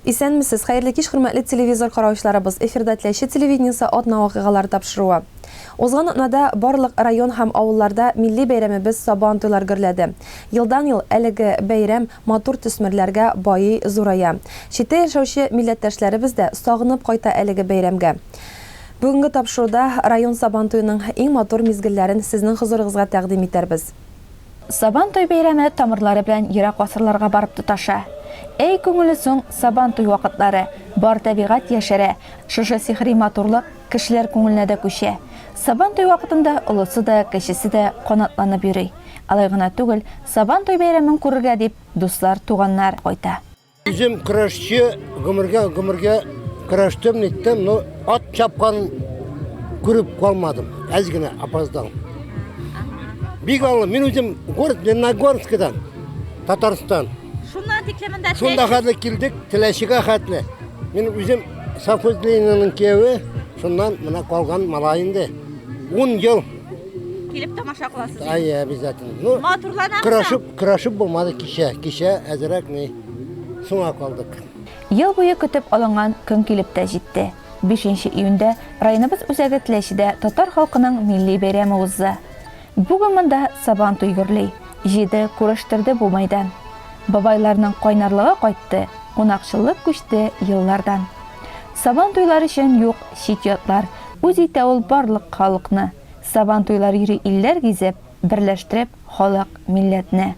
Исәнмесез, хәерле кич хөрмәтле телевизор караучыларыбыз, эфирда Теләче телевидениесе атна вакыйгалары тапшыруы. Узган атнада барлык район һәм авылларда милли бәйрәмебез Сабан туйлар гөрләде. Елдан-ел әлеге бәйрәм матур төсмерләргә байый, зурая. Читтә яшәүче милләттәшләребез дә сагынып кайта әлеге бәйрәмгә. Бүгенге тапшыруда район Сабан туеның иң матур мизгелләрен сезнең хозурыгызга тәкъдим итәрбез. Сабантуй бәйрәме тамырлары белән ерак гасырларга барып тоташа. Әй күңелле соң Сабантуй вакытлары, бар табигать яшәрә, шушы сихри матурлык кешеләр күңеленә дә күчә. Сабантуй вакытында олысы да, кечесе дә канатланып йөри. Алай гына түгел, Сабантуй бәйрәмен күрергә дип дуслар, туганнар кайта. Үзем көрәшче, гомергә гомергә көрәштем, ниттем, но ат чапкан күреп калмадым. Әз генә опоздал. Бик аңлы, мин үзем город Леногорскидан, Татарстан. Шуннан тиклемендә Шунда хәтле килдек, теләшегә хәтле. Мин үзем совхоз Ленинның кияүе, шуннан мына калган малай инде. 10 ел Килеп тамаша кыласыз. Әйе, обязательно. Ну, матурланабыз. Көрәшеп, көрәшеп булмады кичә. Кичә әзрәк ни соңа калдык. Ел буе көтеп алынган көн килеп тә җитте. 5 июньдә районыбыз үзәге Теләчедә татар халкының милли бәйрәме узды. Бүген монда сабан туй гөрли, җиде, күрештерде бу майдан. Бабайларның кайнарлыгы кайтты, кунакчыллык күчте еллардан. Сабан туйлар өчен юк чит ятлар, Үз итә ул барлык халыкны, Сабантуйлар йөри илләр гизеп, Берләштереп халык, милләтне.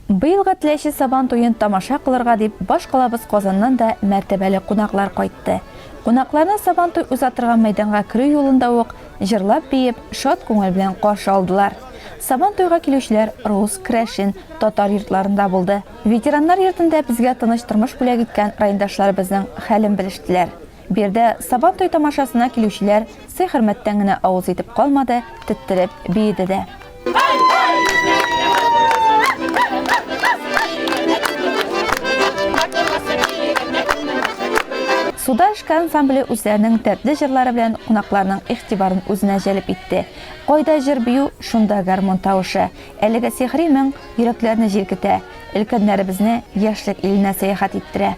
Быелгы Теләче Сабан туен тамаша кылырга дип баш калабыз Казаннан да мәртәбәле кунаклар кайтты. Кунакларны Сабантуй уза торган мәйданга керү юлында ук җырлап-биеп, шат күңел белән каршы алдылар. Сабантуйга килүчеләр рус, крәшен, татар йортларында булды. Ветераннар йортында безгә тыныч тормыш бүләк иткән райондашларыбызның хәлен белештеләр. Биредә Сабан туе тамашасына килүчеләр сый-хөрмәттән генә авыз итеп калмады, теттереп биеде дә. Суда эшкә ансамбле үзләренең дәртле җырлары белән кунакларның игътибарын үзенә җәлеп итте. Кайда җыр бию, шунда гармун тавышы. Әлеге сихри моң йөрәкләрне җилкетә, өлкәннәребезне яшьлек иленә сәяхәт иттерә.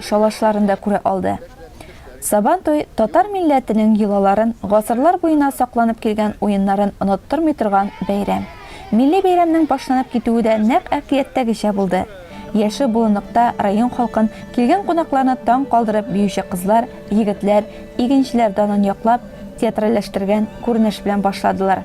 шалашларын да күрә алды. Сабантуй татар милләтенең йолаларын, гасырлар буена сакланып килгән уеннарын оныттырмый торган бәйрәм. Милли бәйрәмнең башланып китүе дә нәкъ әкияттәгечә булды. Яше болынлыкта район халкын, килгән кунакларны таң калдырып биюче кызлар, егетләр, игенчеләр данын яклап, театральләштергән күренеш белән башладылар.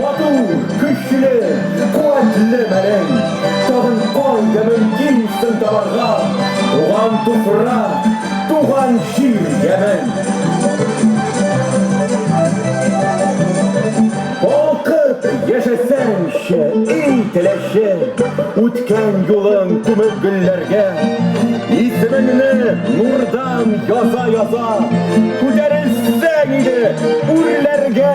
Матур, көчле, куәтле мәлең! Сабый кай да мөмкин син табарга Туган туфрак, туган җир ямен! Балкып яшәсәңче, ий теләче, Үткән юлың күмеп гөлләргә, Исемеңне нурдан яза-яза, Күтәрелсәң иде үрләргә!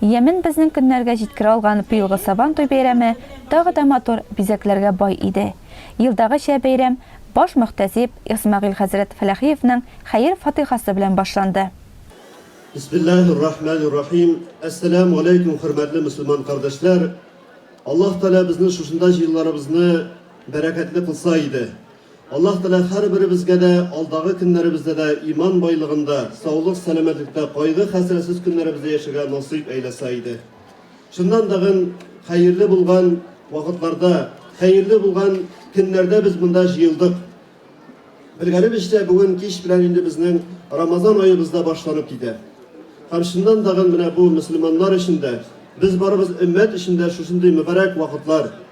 Ямен безнең көннәргә җиткерә алган быелгы Сабан туй бәйрәме тагы да матур бизәкләргә бай иде. Елдагыча бәйрәм баш мөхтәсиб Исмәгыйль хәзрәт Фәләхиевнең хәер-фатыйхасы белән башланды. Бисмиллаһир-рахманир-рахим Әссәләмү аләйкүм хөрмәтле мөселман кардәшләр! Аллаһ Тәгалә безнең шушында җыелуларыбызны бәрәкәтле кылса иде! Аллаһ Тәгалә һәрберебезгә дә алдагы көннәребездә дә иман байлыгында, саулык-сәламәтлектә, кайгы-хәсрәтсез көннәребездә яшәргә насыйп әйләсә иде. Чыннан да гын, хәерле булган вакытларда, хәерле булган көннәрдә без монда җыелдык. Белгәнебезчә, бүген кич белән инде безнең Рамазан аебыз да башланып китә. Һәм чыннан да гын, менә бу мөселманнар өчен дә, без барыбыз өммәт өчен дә шушындый мөбарәк вакытлар,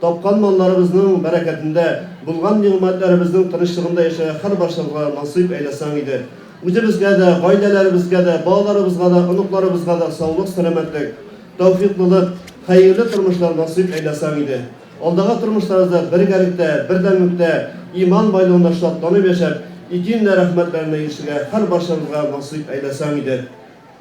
Тапкан малларыбызның бәрәкәтендә, булган нигъмәтләребезнең тынычлыгында яшәргә һәрбарчабызга насыйп әйләсәң иде. Үзебезгә дә, гаиләләребезгә дә, балаларыбызга да, оныкларыбызга да саулык-сәламәтлек, тәүфыйклылык, хәерле тормышлар насыйп әйләсәң иде. Алдагы тормышларыбызда бергәлектә, бердәмлектә, иман байлыгында шатланып яшәп, ике илнә рәхмәтләренә ирешергә һәрбарчабызга насыйп әйләсәң иде.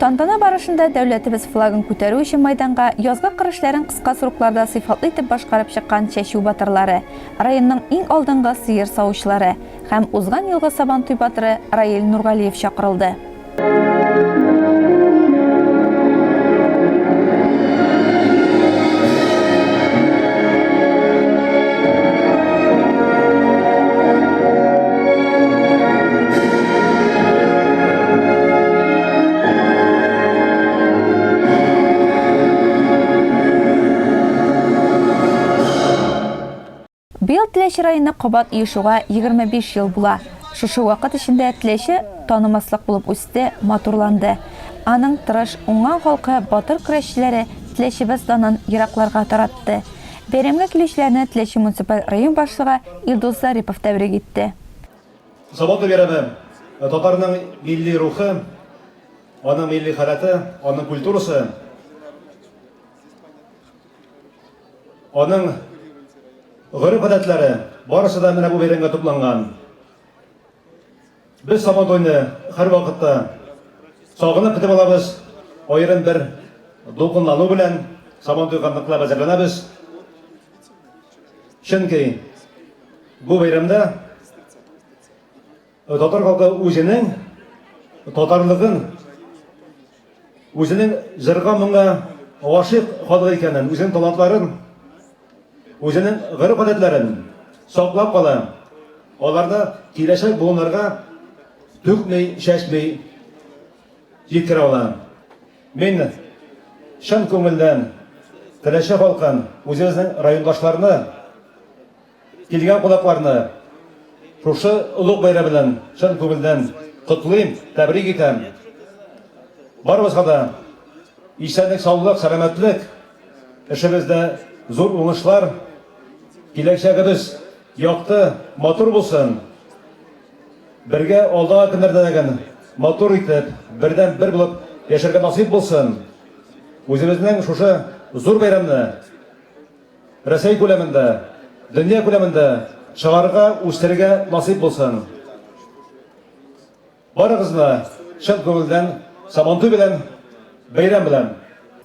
Тантана барышында дәүләтебез флагын күтәрү өчен майданга язгы кыр эшләрен кыска срокларда сыйфатлы итеп башкарып чыккан чәчү батырлары, районның иң алдынгы сыер савучылары һәм узган елгы Сабантуй батыры Раил Нургалиев чакырылды. Быел Теләче районы кабат оешуга 25 ел була. Шушы вакыт эчендә Теләче танымаслык булып үсте, матурланды. Аның тырыш, уңган халкы, батыр көрәшчеләре Теләчебез данын еракларга таратты. Бәйрәмгә килүчеләрне Теләче муниципаль район башлыгы Илдус Зарипов тәбрик итте. Сабантуй бәйрәме татарның милли рухы, аның милли халәте, аның культурасы, аның гореф-гадәтләре барысы да менә бу бәйрәмгә тупланган. Без Сабантуйны һәрвакытта сагынып көтеп алабыз. Аерым бер дулкынлану белән Сабантуйга ныклап әзерләнәбез. Чөнки бу бәйрәмдә татар халкы үзенең татарлыгын, үзенең җырга моңа гашыйк халык икәнен, үзенең талантларын, үзенең гореф-гадәтләрен саклап кала. Аларны киләчәк буыннарга түкми, чәчми җиткерә ала. Мин чын күңелдән Теләче халкын, үзебезнең райондашларны, килгән кунакларны шушы олуг бәйрәм белән чын күңелдән котлыйм, тәбрик итәм. Барыбызга да исәнлек, саулык, сәламәтлек, эшебездә зур уңышлар, киләчәгебез якты, матур булсын. Бергә алдагы көннәрдә дә генә матур итеп, бердәм бер булып яшәргә насыйп булсын. Үзебезнең шушы зур бәйрәмне Рәсәй күләмендә, дөнья күләмендә чыгарырга, үстерергә насыйп булсын. Барыгызны чын күңелдән Сабантуй белән, бәйрәм белән!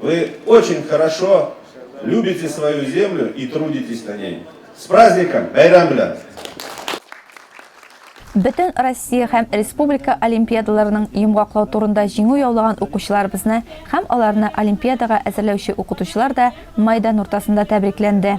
Вы очень хорошо любите свою землю и трудитесь на ней. С праздником! Байрам белән! Бөтен Россия һәм республика олимпиадаларының йомгаклау турында җиңү яулаган укучыларыбызны һәм аларны олимпиадага әзерләүче укытучылар да майдан уртасында тәбрикләнде.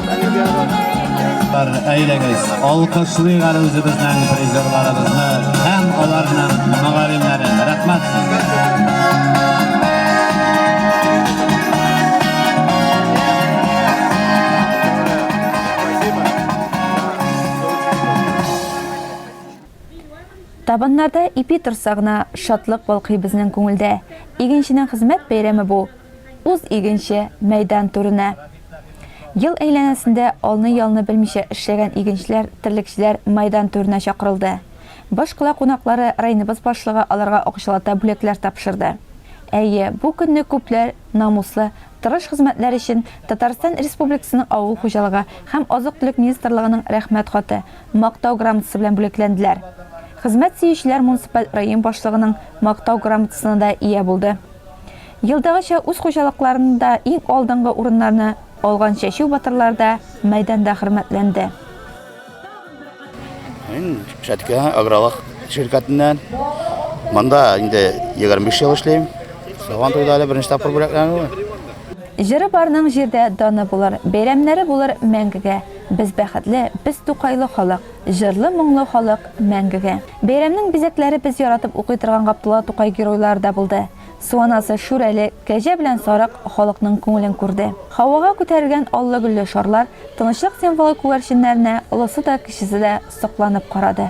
Әйдәгез, алкышлыйк әле үзебезнең призерларыбызны һәм аларның мөгаллимнәрен. Рәхмәт Табыннарда ипи торса гына, шатлык балкый безнең күңелдә. Игенченең хезмәт бәйрәме бу. Уз игенче мәйдан түренә. Ел әйләнәсендә алны-ялны белмичә эшләгән игенчеләр, терлекчеләр мәйдан түренә чакырылды. Башкала кунаклары районыбыз башлыгы аларга акчалата бүләкләр тапшырды. Әйе, бу көнне күпләр намуслы, тырыш хезмәтләре өчен Татарстан Республикасының Авыл хуҗалыгы һәм азык-төлек министрлыгының Рәхмәт хаты, Мактау грамотасы белән бүләкләнделәр. Хезмәт сөючеләр муниципаль район башлыгының Мактау грамотасына да ия булды. Елдагыча үз хуҗалыкларында иң алдынгы урыннарны алган чәчү батырлар да мәйданда хөрмәтләнде. Мин Шәткә агралык ширкәтеннән. Монда инде 25 ел эшлим. Сабан туйда әле беренче тапкыр бүләкләнү. Җыры барның җирдә даны булыр, бәйрәмнәре булыр мәңгегә. Без бәхетле, без Тукайлы халык. Җырлы-моңлы халык мәңгегә. Бәйрәмнең бизәкләре без яратып укый торган Габдулла Тукай геройлары да булды. Су анасы Шүрәле, Кәҗә белән Сарык халыкның күңелен күрде. Һавага күтәрелгән аллы-гөлле шарлар Тынычлык символы күгәрченнәренә олысы да, кечесе дә сокланып карады.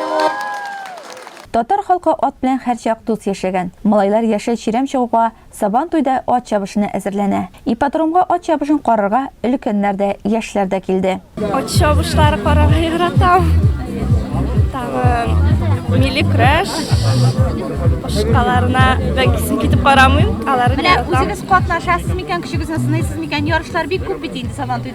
Татар халкы ат белән һәрчак дус яшәгән. Малайлар яшел чирәм чыгуга, Сабан туйда ат чабышына әзерләнә. Ипподромга ат чабышын карарга өлкәннәр дә, яшьләр дә килде. Ат чабышлары карарга яратам. Тагын милли көрәш башкаларына бәкесен китеп карамыйм. Аларны яратам. Менә үзегез катнашасыз микән, көчегезне сынайсыз микән? Ярышлар бик күп бит инде Сабан туйда.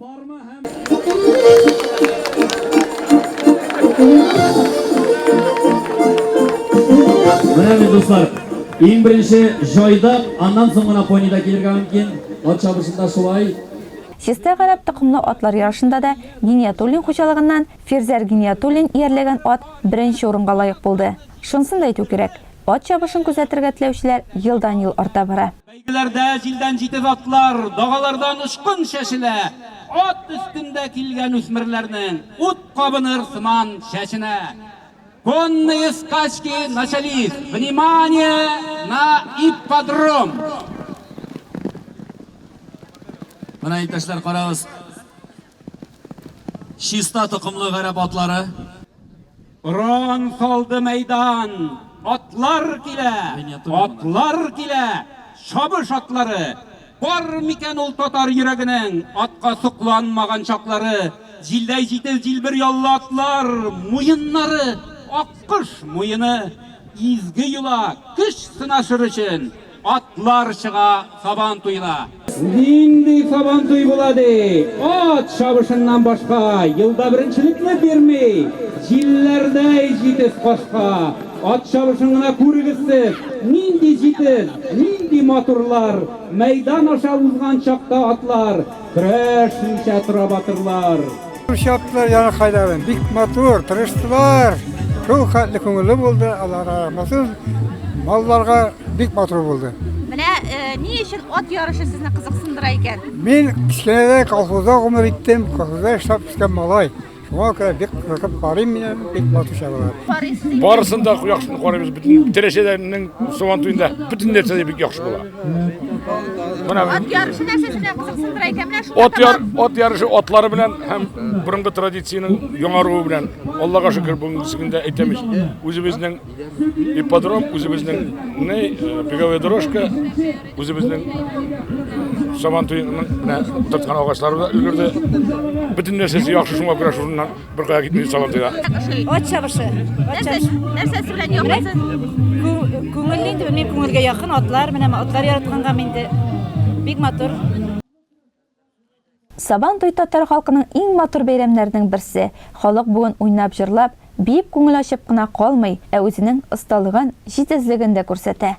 Менә бит дуслар, иң беренче җайда, аннан соң гына понидә килергә мөмкин. Ат чабышында шулай. Чистай гарәп токымлы атлар ярышында да Гиниятуллин хуҗалыгыннан Фирзәр Гиниятуллин иярләгән ат беренче урынга лаек булды. Шунысын да әйтү кирәк, ат чабышын күзәтергә теләүчеләр елдан-ел арта бара. Бәйгеләрдә җилдән җитез атлар, дагалардан очкын чәчелә, ат өстендә килгән үсмерләрнең ут кабыныр сыман чәченә Конные скачки начались! Внимание на ипподром! Менә, иптәшләр, карагыз, чиста токымлы гарәп атлары. Уран салды мәйдан, атлар килә, атлар килә, чабыш атлары! Бар микән ул татар йөрәгенең атка сокланмаган чаклары? Җилдәй җитез җилбер яллы атлар, муеннары, аккош муены! Изге йола, көч сынашыр өчен. Атлар чыга сабан туена. Нинди сабантуй була ди? Ат чабышыннан башка, елда беренчелекне бирми, җилләрдәй җитез кашка. Ат чабышын гына күрегез сез, нинди җитез, нинди матурлар! Мәйдан аша узган чакта атлар, Көрәш ничә тора батырлар. Шаптылар яна хайларын. Бик матур, тырыштылар. Шул хәтле күңелле булды. Аллага рәхмәтсез. Малларга бик матур булды. Менә э, ни өчен ат ярышы сезне кызыксындыра икән? Мин кечкенәдә колхозда гомер иттем, колхозда эшләп үскән малай. Шуңа күрә бик кызыкып карыйм мин аны, бик матур чабалар. Барысын да яхшыны карыйбыз, бөтен тәрәшәләрнең сабан туенда бөтен нәрсә дә бик яхшы була. Менә Ат ярышы нәрсәсенә кызыксындыра икән, менә шул. ат яр, ат ярышы атлары белән һәм борынгы традициянең яңаруы белән Аллага шөкер бүгенге көндә әйтәмез үзебезнең Ипподром үзебезнең не беговая дорожка, үзебезнең сабан туеның менә тоткан агачлары да өлгерде. Бөтен нәрсәсе яхшы шуңа күрә шуннан бер кая китми сабан туена. Ат чабышы. Нәрсәсе белән яхшы? Күңел инде, мин күңелгә якын атлар, менә атлар яратканга инде бик матур. Сабан туй татар халкының иң матур бәйрәмнәренең берсе. Халык бүген уйнап-җырлап, биеп күңел ачып кына калмый, ә үзенең осталыгын, җитезлеген дә күрсәтә.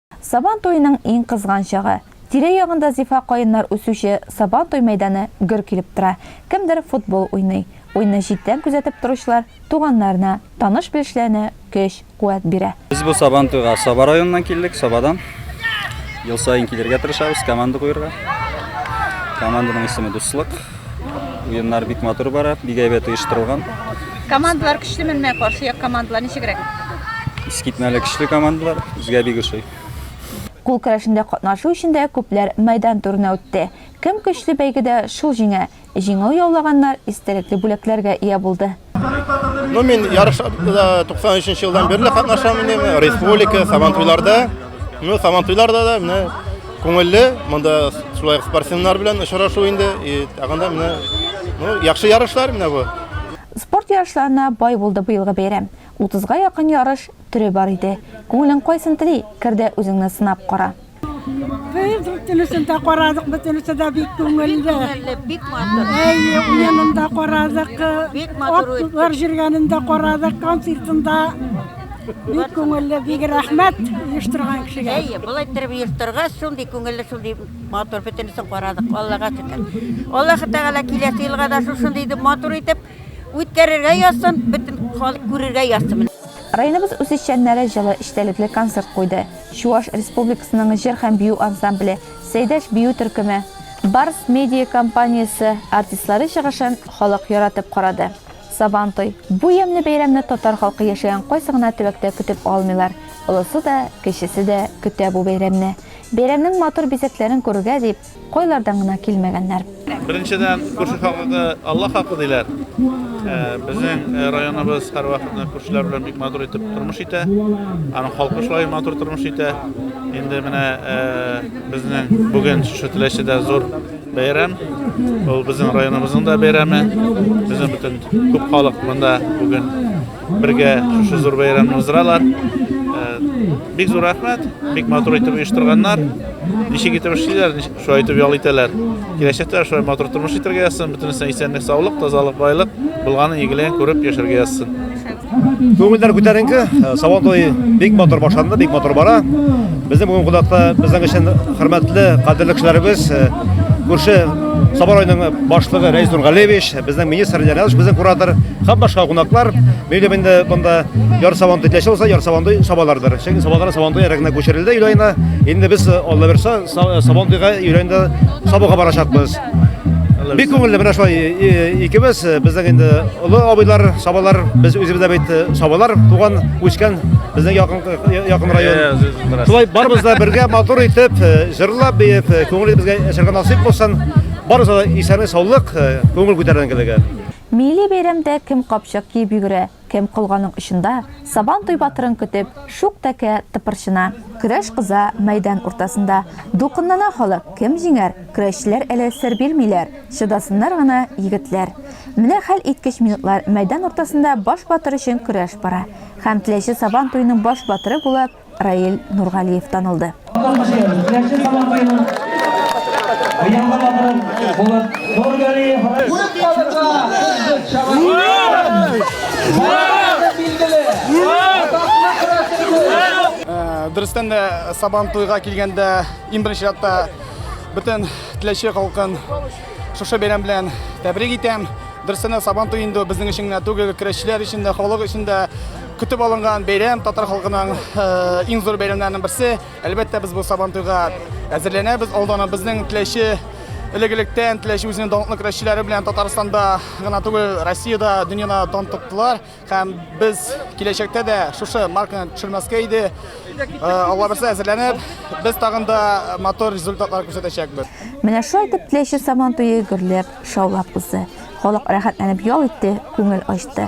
Сабан туеның иң кызган чагы. Тирә-ягында зифа каеннар үсүче Сабан туй мәйданы гөр килеп тора. Кемдер футбол уйный. Уйны читтән күзәтеп торучылар туганнарына, таныш-белешләренә көч, куәт бирә. Без бу Сабан туйга Саба районыннан килдек, Сабадан. Ел саен килергә тырышабыз, команда куерга. Команданың исеме Дуслык. Уеннар бик матур бара, бик әйбәт оештырылган. Командалар көчле менмә каршы як командалар ничегрәк? Искитмәле көчле командалар, безгә бик ошый. Кул көрәшендә катнашу өчен дә күпләр мәйдан турына үтте. Кем көчле бәйгедә шул җиңә. Җиңү яулаганнар истәлекле бүләкләргә ия булды. Ну, мин ярышта 93 елдан бирле катнашам инде, республика, Сабантуйларда. Ну, Сабантуйларда да менә күңелле, монда шулай спортсменнар белән очрашу инде, и тагын да менә ну, яхшы ярышлар менә бу. Спорт ярышларына бай булды быелгы бәйрәм. 30-га якын ярыш төре бар иде. Күңелең кайсын тели, кер дә үзеңне сынап кара. Без бөтенесен дә карадык, бөтенесе дә бик күңелле. Бик матур. Әйе, уенын да карадык. Бик матур үтте. Атлар җиргәнен дә карадык, концертын да. Бик күңелле, бик рәхмәт оештырган кешегә. Әйе, болай иттереп оештырга, шундый күңелле, шундый матур бөтенесен карадык. Аллага шөкер. Аллаһы Тәгалә киләсе елга да шушындый итеп матур итеп үткәрергә язсын, бөтен халык күрергә язсын. Районыбыз үзешчәннәре җылы эчтәлекле концерт куйды. Чуаш Республикасының җыр һәм бию ансамбле, Сәйдәш бию төркеме, Барс медиа компаниясе артистлары чыгышын халык яратып карады. Сабантуй, бу ямьле бәйрәмне татар халкы яшәгән кайсы гына төбәктә көтеп алмыйлар. Олысы да, кечесе дә көтә бу бәйрәмне. Бәйрәмнең матур бизәкләрен күрергә дип, Кайлардан гына килмәгәннәр. Беренчедән, күрше халкы Алла халкы диләр. Безнең районыбыз һәрвакытны күршеләр белән бик матур итеп тормыш итә. Аның халкы шулай матур тормыш итә. Инде менә безнең бүген шушы Теләчедә зур бәйрәм. Ул безнең районыбызның да бәйрәме. Безнең бөтен күп халык монда бүген Бергә шушы зур бәйрәмне уздыралар. Бик зур рәхмәт, бик матур итеп оештырганнар. Ничек итеп эшлиләр, шулай итеп ял итәләр. Киләчәктә шулай матур тормыш итәргә язсын, бөтенесенә исәнлек, саулык, тазалык, байлык, булганын игеләен күреп яшәргә язсын. Күңелләр күтәренке, Сабан туе бик матур башланды, бик матур бара. Безнең бүгін кунакта безнең өчен хөрмәтле, кадерле кешеләребез, күрше Сабан районының башлыгы Рәис Нургалевич, Безнең министр Леонидович, безнең куратор, һәм башка кунаклар, мөйлем инде монда яр сабан төтләшә булса, яр сабан сабалардыр. Чөнки сабалар сабан туй ярагына күчерелде өйләйнә. Инде без э, Алла берсә сабан туйга өйләйнә сабага барачакбыз. Бик күңелле менә шулай э, э, икебез, безнең инде олы абыйлар, сабалар, без үзебез дә бит сабалар, туган, үскән безнең якын якын район. Шулай барыбыз да бергә матур итеп, җырлап, биеп, күңелебезгә әшәргә насыйп булсын. Барысы да исәнлек, саулык, күңел күтәренкелеге. Милли бәйрәмдә кем капчык киеп йөгерә, кем колганың очында, Сабан туй батырын көтеп, шук тәкә тыпырчына. Көрәш кыза мәйдан уртасында. Дулкынлана халык, кем җиңәр? Көрәшчеләр әле сер бирмиләр, чыдасыннар гына егетләр. Менә хәл иткеч минутлар, мәйдан уртасында баш батыр өчен көрәш бара. Һәм теләче Сабан туеның баш батыры булып, Раил Нургалиев танылды. Дөрестән дә Сабан туйга килгәндә иң беренче чиратта бөтен теләче халкын шушы бәйрәм белән тәбрик итәм. Дөрестән дә Сабан туе инде безнең өчен генә түгел, көрәшчеләр өчен дә, халык өчен дә Көтеп алынган бәйрәм татар халкының иң зур бәйрәмнәренең берсе. Әлбәттә, без бу Сабан туйга әзерләнәбез. Алдана безнең теләче элегелектән теләче үзенең данлыклы көрәшчеләре белән Татарстанда гына түгел, Россиядә, дөньяда дан тоттылар һәм без киләчәктә дә шушы марканы төшермәскә иде. Алла берсә әзерләнеп, без тагын да мотор результатлар күрсәтәчәкбез. Менә шулай итеп теләче Сабан туе гөрләп, шаулап узды. Халык рәхәтләнеп ял итте, күңел ачты.